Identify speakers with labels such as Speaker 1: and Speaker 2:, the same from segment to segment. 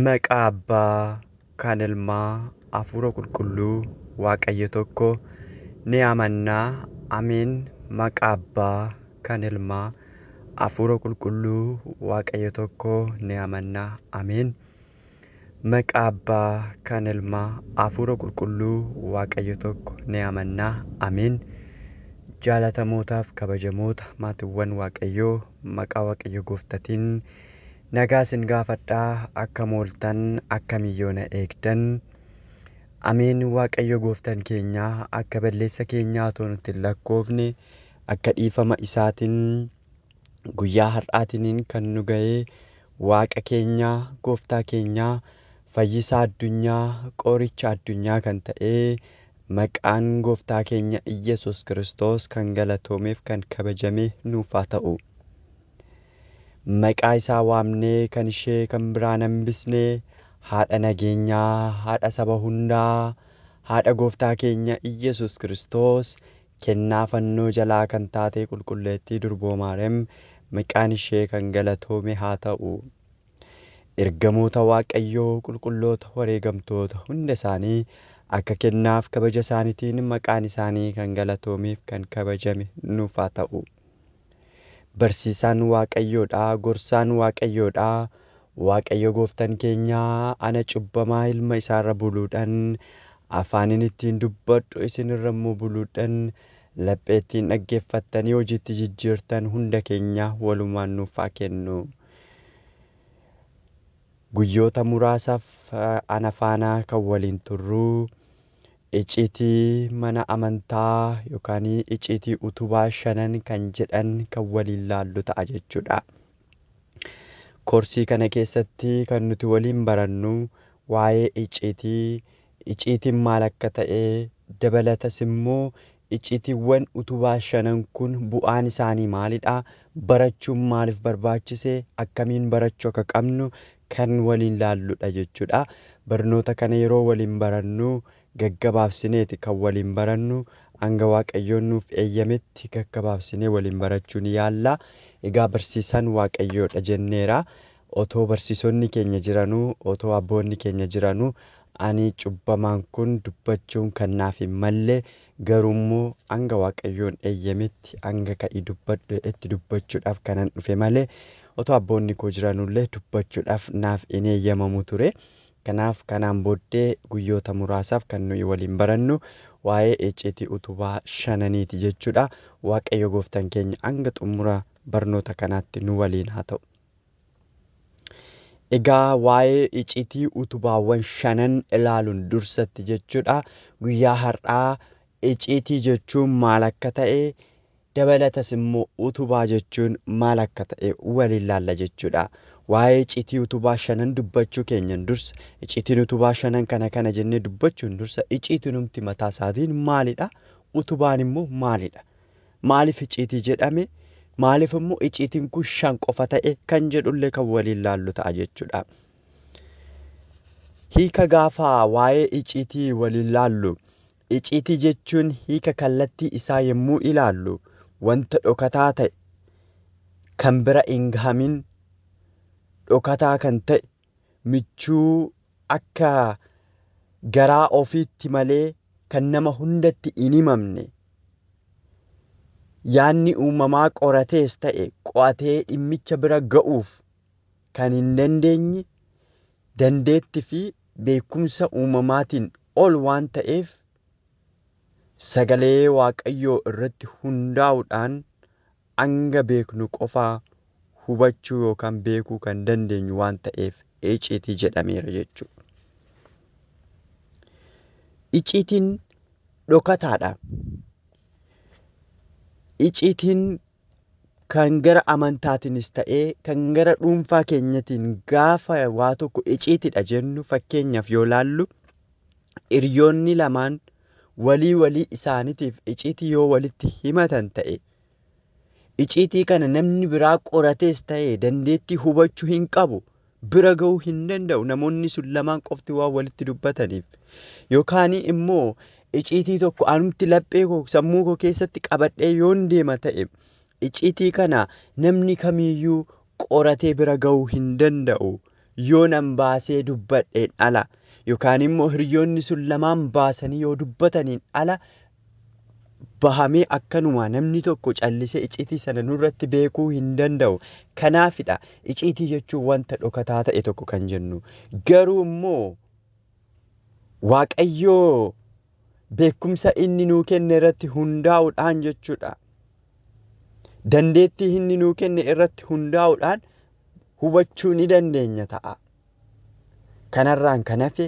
Speaker 1: Maqaa Abbaa, kan Ilmaa, Hafuura Qulqulluu, Waaqayyo tokko, ni amanna. Ameen. Maqaa Abbaa, kan Ilmaa, Hafuura Qulqulluu, Waaqayyo tokko, ni amanna. Ameen. Maqaa Abbaa, kan Ilmaa, Hafuura Qulqulluu, Waaqayyo tokko, ni amanna. Ameen. Jaallatamootaaf kabajamoota maatiiwwan Waaqayyoo maqaa waqayyo goftatin nagaa sin gaafadha akka mooltan akka miyyoona eegdan ameen waaqayyo gooftan keenya akka balleessa keenyaa otoo nutti hin lakkoofne akka dhiifama isaatin guyyaa har'aatiniin kan nu ga'ee waaqa keenyaa gooftaa keenyaa fayyisaa addunyaa qooricha addunyaa kan ta'ee Maqaan gooftaa keenya Iyyesuus Kiristoos kan galatoomeef kan kabajamee nuuf haa ta'u. Maqaa isaa waamnee kan ishee kan biraan hambisne haadha nageenyaa, haadha saba hundaa, haadha gooftaa keenya Iyyesuus Kiristoos kennaa fannoo jalaa kan taatee qulqulleettii durboo Maarem maqaan ishee kan galatoome haa ta'u. Ergamoota Waaqayyoo qulqulloota wareegamtoota hunda isaanii akka kennaaf kabaja isaanitiin maqaan isaanii kan galatoomeef kan kabajame nuuf haa ta'u. Barsiisaan Waaqayyoodha, gorsaan Waaqayyoodha, Waaqayyo gooftan keenya ana cubbamaa ilma isaarra buluudhan, afaanin ittiin dubbadhu isinirra immoo buluudhan lapheettiin dhaggeeffattanii hojiitti jijjiirtan hunda keenya walumaan nuuf haa kennu. Guyyoota muraasaaf ana faana kan waliin turru icciitii mana amantaa yookaan icciitii utubaa shanan kan jedhan kan waliin laallu ta'a jechuudha. Koorsii kana keessatti kan nuti waliin barannu waa'ee icciitii Icciitiin maal akka ta'e, dabalatas immoo icciitiiwwan utubaa shanan kun bu'aan isaanii maalidha, barachuun maaliif barbaachise, akkamiin barachuu akka qabnu kan waliin laalludha jechuudha. Barnoota kana yeroo waliin barannu gaggabaabsineeti kan waliin barannu. Hanga Waaqayyoon nuuf eeyyametti gaggabaabsinee waliin barachuu ni yaalla. Egaa barsiisaan Waaqayyoodha jenneera. Otoo barsiisonni keenya jiranuu, otoo abboonni keenya jiranuu, ani cubbamaan kun dubbachuun kan naaf hin malle, garuu immoo hanga Waaqayyoon eeyyametti, hanga ka'i dubbadhu jedhetti dubbachuudhaaf kanan dhufe malee, otoo abboonni koo jiranuu illee dubbachuudhaaf naaf hin eeyyamamu ture. Kanaaf kanaan booddee guyyoota muraasaaf kan nuyi waliin barannu waa'ee icciitii utubaa shananiiti jechuudha. Waaqayyo gooftan keenya hanga xumura barnoota kanaatti nu waliin haa ta'u. Egaa waa'ee icitii utubaawwan shanan ilaaluun dursatti jechuudha. Guyyaa har'aa icitii jechuun maal akka ta'e dabalatas immoo utubaa jechuun maal akka ta'e waliin laalla jechuudha. Waa'ee icitii utubaa shanan dubbachuu keenyan dursa icitiin utubaa shanan kana kana jennee dubbachuun dursa iciitinumti mataa isaatiin maalidha? Utubaan immoo maalidha? Maaliif icciitii jedhame? Maaliif immoo icciitiin kun shan qofa ta'e kan jedhullee kan waliin laallu ta'a jechuudha. Hiika gaafa waa'ee icciitii waliin laallu icciitii jechuun hiika kallattii isaa yommuu ilaallu wanta dhokataa ta'e kan bira hin gahamin dhokataa kan ta'e michuu akka garaa ofiitti malee kan nama hundatti hin himamne yaadni uumamaa qoratees ta'e qo'atee dhimmicha bira ga'uuf kan hin dandeenye dandeetti fi beekumsa uumamaatiin ol waan ta'eef sagalee waaqayyoo irratti hundaa'uudhaan hanga beeknu qofaa hubachuu yookaan beekuu kan dandeenyu waan ta'eef iciitii jedhameera jechuudha. Iciitiin dhokataadha. Iciitiin kan gara amantaatiinis ta'ee kan gara dhuunfaa keenyatiin gaafa waa tokko iciitidha jennu fakkeenyaaf yoo laallu hiriyoonni lamaan walii walii isaaniitiif iciitii yoo walitti himatan ta'e Iciitii kana namni biraa qoratees ta'e dandeettii hubachuu hin qabu. Bira ga'uu hin danda'u namoonni sun lamaan qofti waan walitti dubbataniif. Yookaan immoo iciitii tokko anumti laphee koo sammuu koo keessatti qabadhee yoon deema ta'e iciitii kana namni kamiyyuu qoratee bira ga'uu hin danda'u. Yoo nan baasee dubbadheen ala yookaan immoo hiriyoonni sun lamaan baasanii yoo dubbataniin ala bahamee akkanumaa namni tokko callisee icciitii sana nurratti beekuu hin danda'u. Kanaafidha icciitii jechuun wanta dhokataa ta'e tokko kan jennu. Garuu immoo Waaqayyoo beekumsa inni nuu kenne irratti hundaa'uudhaan jechuudha. Dandeettii inni nuu kenne irratti hundaa'uudhaan hubachuu ni dandeenya ta'a. Kanarraan kan hafe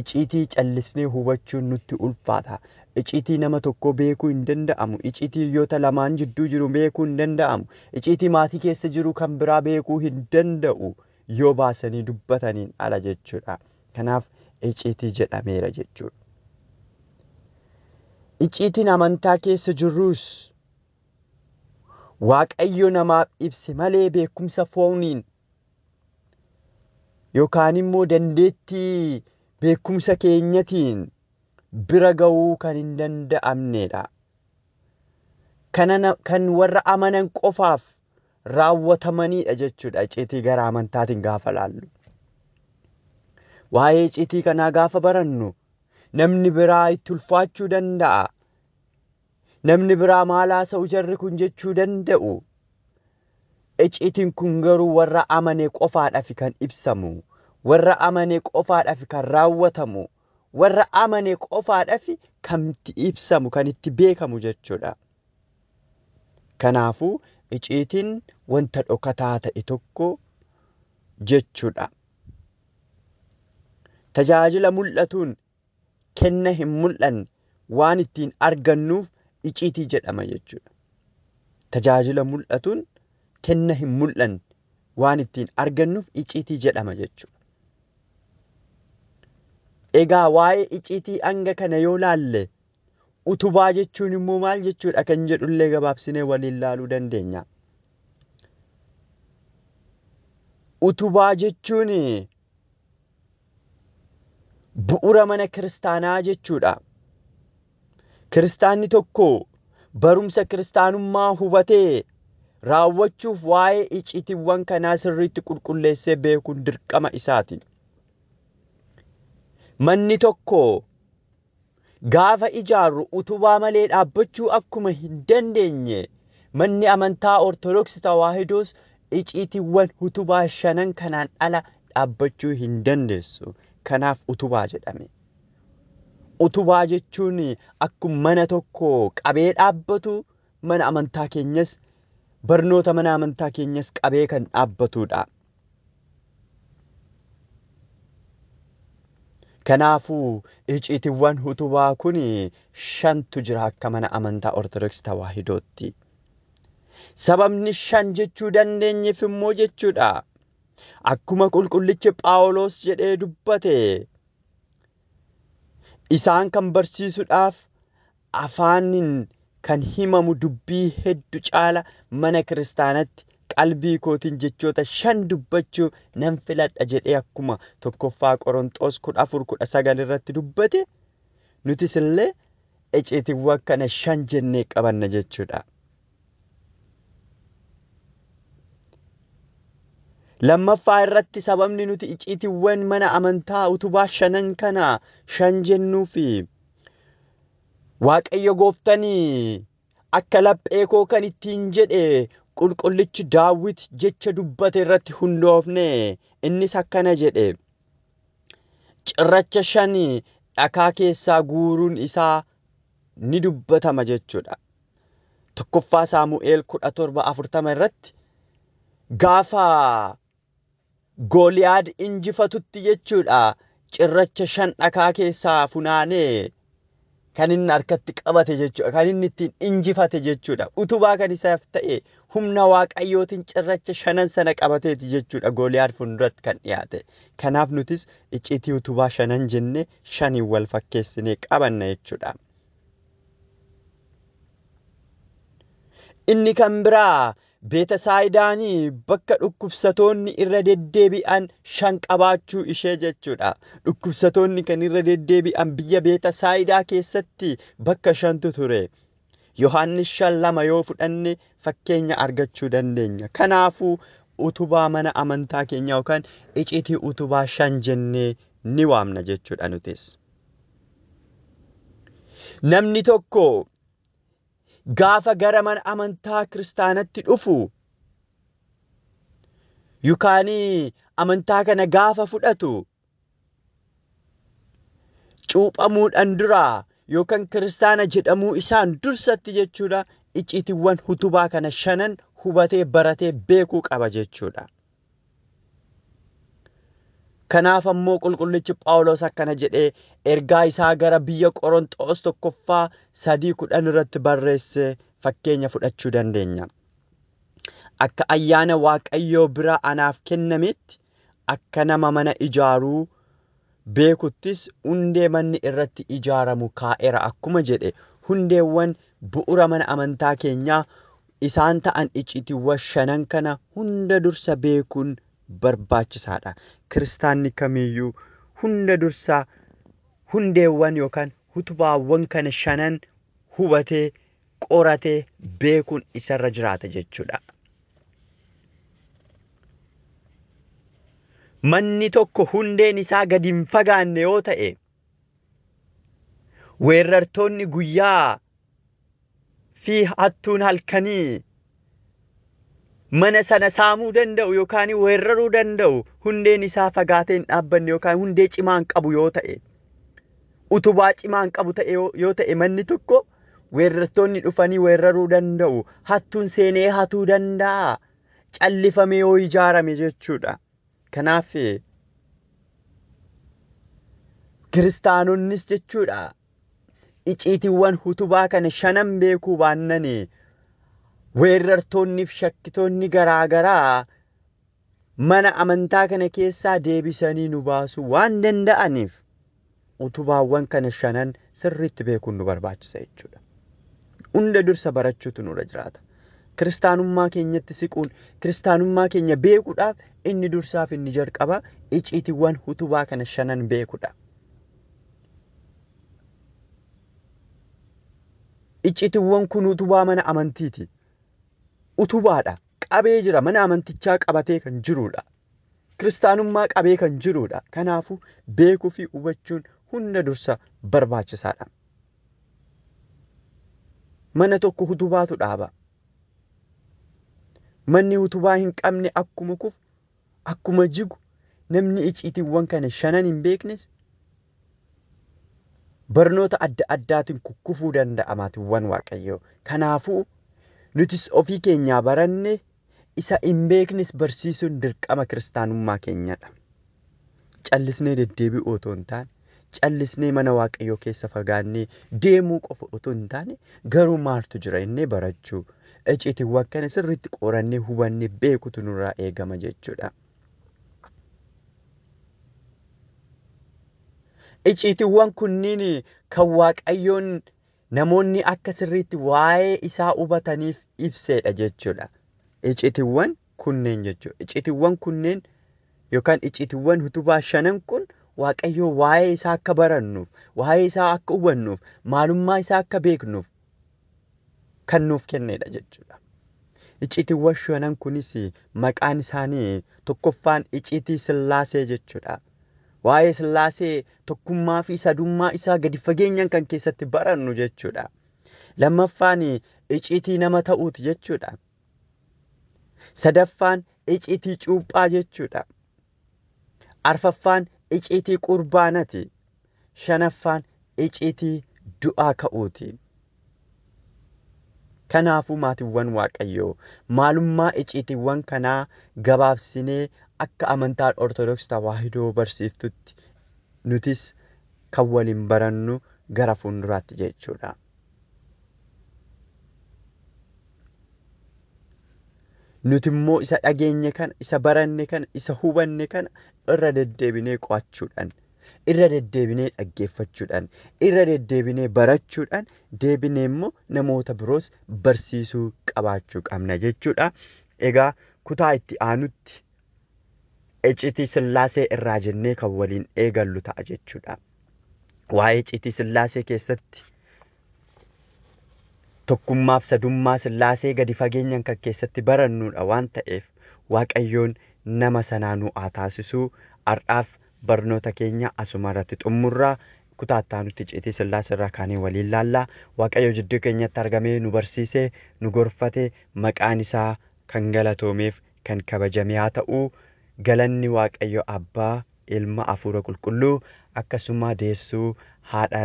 Speaker 1: iciitii callisnee hubachuun nutti ulfaata. Iciitii nama tokkoo beekuu hin danda'amu. Iciitii hiriyoota lamaan jidduu jiru beekuu hin danda'amu. Iciitii maatii keessa jiru kan biraa beekuu hin danda'u yoo baasanii dubbataniin ala jechuudha. Kanaaf iciitii jedhameera jechuudha. Iciitiin amantaa keessa jirrus Waaqayyo namaaf ibse malee beekumsa fooniin yookaan immoo dandeettii beekumsa keenyatiin bira ga'uu kan hin danda'amneedha. Kana na- kan warra amanan qofaaf raawwatamaniidha jechuudha icciitii gara amantaatiin gaafa laallu. Waa'ee icciitii kanaa gaafa barannu namni biraa itti ulfaachuu danda'a. Namni biraa maal haasa'u jarri kun jechuu danda'u. Iciitiin kun garuu warra amane qofaadhaaf kan ibsamu, warra amane qofaadhaaf kan raawwatamu, warra amane qofaadhaaf kan itti ibsamu, kan itti beekamu jechuudha. Kanaafuu iciitiin wanta dhokataa ta'e tokko jechuudha. Tajaajila mul'atuun kenna hin mul'anne waan ittiin argannuuf iciitii jedhama jechuudha. Tajaajila mul'atuun kenna hin mul'anne waan ittiin argannuuf iciitii jedhama jechuudha. Egaa waa'ee iciitii hanga kana yoo laalle utubaa jechuun immoo maal jechuudha kan jedhullee gabaabsinee waliin laaluu dandeenya. Utubaa jechuun bu'ura mana kiristaanaa jechuudha. Kiristaanni tokko barumsa kiristaanummaa hubatee raawwachuuf waa'ee icitiiwwan kanaa sirriitti qulqulleessee beekuun dirqama isaati. Manni tokko gaafa ijaarru utubaa malee dhaabbachuu akkuma hin dandeenye manni amantaa Ortodoksii Tawaahidoos iciitiiwwan utubaa shanan kanaan ala dhaabbachuu hin dandeessu. Kanaaf utubaa jedhame. Utubaa jechuun akkuma mana tokko qabee dhaabbatu mana amantaa keenyas barnoota mana amantaa keenyas qabee kan dhaabbatudha. Kanaafuu iciitiwwan utubaa kun shantu jira akka mana amantaa Ortodoksii Tawaahidootti. Sababni shan jechuu dandeenyeef immoo jechuudha. Akkuma qulqullichi Phaawulos jedhee dubbate isaan kan barsiisuudhaaf afaanin kan himamu dubbii heddu caala mana kiristaanatti qalbii kootiin jechoota shan dubbachuu nan filadha jedhee akkuma tokkoffaa Qoronxoos 14:19 irratti dubbate nutis illee eceetiiwwan kana shan jennee qabanna jechuudha. Lammaffaa irratti sababni nuti iciitiiwwan mana amantaa utubaa shanan kana shan jennuu fi Waaqayyo gooftanii akka laphee koo kan ittiin jedhe qulqullichi daawwit jecha dubbate irratti hundoofne innis akkana jedhe cirracha shan dhakaa keessaa guuruun isaa ni dubbatama jechuudha. Tokkoffaa Saamu'eel kudha torba afurtama irratti gaafa Gooliyaad injifatutti jechuudha cirracha shan dhakaa keessaa funaanee kan inni harkatti qabate jechuudha. Kan inni ittiin injifate jechuudha. Utubaa kan isaaf ta'e humna waaqayyootiin cirracha shanan sana qabateeti jechuudha Gooliyaad fuulduratti kan dhiyaate. Kanaaf nutis icciitii utubaa shanan jennee shaniin wal fakkeessinee qabanna jechuudha. Inni kan biraa Beetasaaydaan bakka dhukkubsatoonni irra deddeebi'an shan qabaachuu ishee jechuudha. Dhukkubsatoonni kan irra deddeebi'an biyya Beetasaayidaa keessatti bakka shantu ture. Yohaannis shan lama yoo fudhanne fakkeenya argachuu dandeenya. Kanaafuu utubaa mana amantaa keenyaa yookaan icitii utubaa shan jennee ni waamna jechuudha nutis. Namni tokko gaafa gara mana amantaa kiristaanatti dhufu yookaan amantaa kana gaafa fudhatu cuuphamuudhaan dura yookaan kiristaana jedhamuu isaan dursatti jechuudha icciitiiwwan utubaa kana shanan hubatee baratee beekuu qaba jechuudha. Kanaaf ammoo qulqullichi Phaawulos akkana jedhee ergaa isaa gara biyya Qoronxoos tokkoffaa sadii kudhan irratti barreesse fakkeenya fudhachuu dandeenya. Akka ayyaana Waaqayyoo bira anaaf kennameetti akka nama mana ijaaruu beekuttis hundee manni irratti ijaaramu kaa'eera akkuma jedhe hundeewwan bu'ura mana amantaa keenyaa isaan ta'an icciitiwwa shanan kana hunda dursa beekuun barbaachisaadha. Kiristaanni kamiyyuu hunda dursa hundeewwan yookaan hutubaawwan kana shanan hubatee qoratee beekuun isarra jiraata jechuudha. Manni tokko hundeen isaa gadi hin fagaanne yoo ta'e weerartoonni guyyaa fi hattuun halkanii mana sana saamuu danda'u yookaan weeraruu danda'u hundeen isaa fagaatee hin dhaabbanne yookaan hundee cimaa hin qabu yoo ta'e utubaa cimaa hin qabu ta'e yoo yoo ta'e manni tokko weerartoonni dhufanii weeraruu danda'u hattuun seenee hatuu danda'a callifamee yoo ijaarame jechuudha kanaaf kiristaanonnis jechuudha iciitiiwwan hutubaa kana shanan beekuu baannani weerartoonniif shakkitoonni garaa garaa mana amantaa kana keessaa deebisanii nu baasuu waan danda'aniif utubaawwan kana shanan sirriitti beekuun nu barbaachisa jechuudha. Hunda dursa barachuutu nurra jiraata. Kiristaanummaa keenyatti siquun kiristaanummaa keenya beekuudhaaf inni dursaaf inni jalqaba iciitiiwwan utubaa kana shanan beekuudha. Iccitiwwan kun utubaa mana amantiiti. Utubaadha. Qabee jira. Mana amantichaa qabatee kan jiruudha. Kiristaanummaa qabee kan jiruudha. Kanaafuu beekuu fi hubachuun hunda dursa barbaachisaadha. Mana tokko utubaatu dhaaba. Manni utubaa hin qabne akkuma kufu akkuma jigu namni iciitiiwwan kana shanan hin beeknes barnoota adda addaatiin kukkufuu danda'a maatiiwwan waaqayyoo. Kanaafuu nutis ofii keenyaa barannee isa hin beeknes barsiisuun dirqama kiristaanummaa keenyadha. Callisnee deddeebi'uu otoo hin taane callisnee mana Waaqayyoo keessa fagaannee deemuu qofa utuu hin taane garuu maaltu jira innee barachuu icciitiiwwan kana sirriitti qorannee hubannee beekutu nurraa eegama jechuudha. Icciitiiwwan kunniin kan Waaqayyoon namoonni akka sirriitti waa'ee isaa hubataniif ibseedha jechuudha. Icitiwwan kunneen jechuudha. Icitiwwan kunneen yookaan icitiwwan utubaa shanan kun Waaqayyoo waa'ee isaa akka barannuuf, waa'ee isaa akka hubannuuf, maalummaa isaa akka beeknuuf kan nuuf kennedha jechuudha. Icitiwwan shanan kunis maqaan isaanii tokkoffaan icitii sillaasee jechuudha. Waa'ee Sillaasee tokkummaa fi sadummaa isaa gadi fageenyaan kan keessatti barannu jechuudha. Lammaffaan iciitii nama ta'uuti jechuudha. Sadaffaan iciitii cuuphaa jechuudha. Arfaffaan iciitii qurbaanati. shanaffaan icitii du'aa ka'uuti. Kanaafuu maatiiwwan Waaqayyoo maalummaa iciitiiwwan kanaa gabaabsinee akka amantaan Ortodoks Tawaahidoo barsiiftutti nutis kan waliin barannu gara fuulduraatti jechuudha. Nuti immoo isa dhageenye kana, isa baranne kana, isa hubanne kana irra deddeebinee qo'achuudhaan irra deddeebinee dhaggeeffachuudhaan, irra deddeebinee barachuudhaan, deebinee immoo namoota biroos barsiisuu qabaachuu qabna jechuudha. Egaa kutaa itti aanutti iccitii sillaasee irraa jennee kan waliin eegallu ta'a jechuudha. Waa'ee iccitii sillaasee keessatti tokkummaaf sadummaa Sillaasee gadi fageenyan kan keessatti barannuudha waan ta'eef Waaqayyoon nama sanaa nu haa taasisuu har'aaf barnoota keenya asuma irratti xummurra kutaa itti aanutti icciitii Sillaasee irraa kaanee waliin laalla Waaqayyo jidduu keenyatti argamee nu barsiisee nu gorfate maqaan isaa kan galatoomeef kan kabajame haa ta'u galanni waaqayyo abbaa ilma afuura qulqulluu akkasumaa deessuu haadha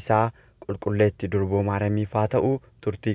Speaker 1: isaa qulqulleetti durboo maaramiif haa ta'u turtii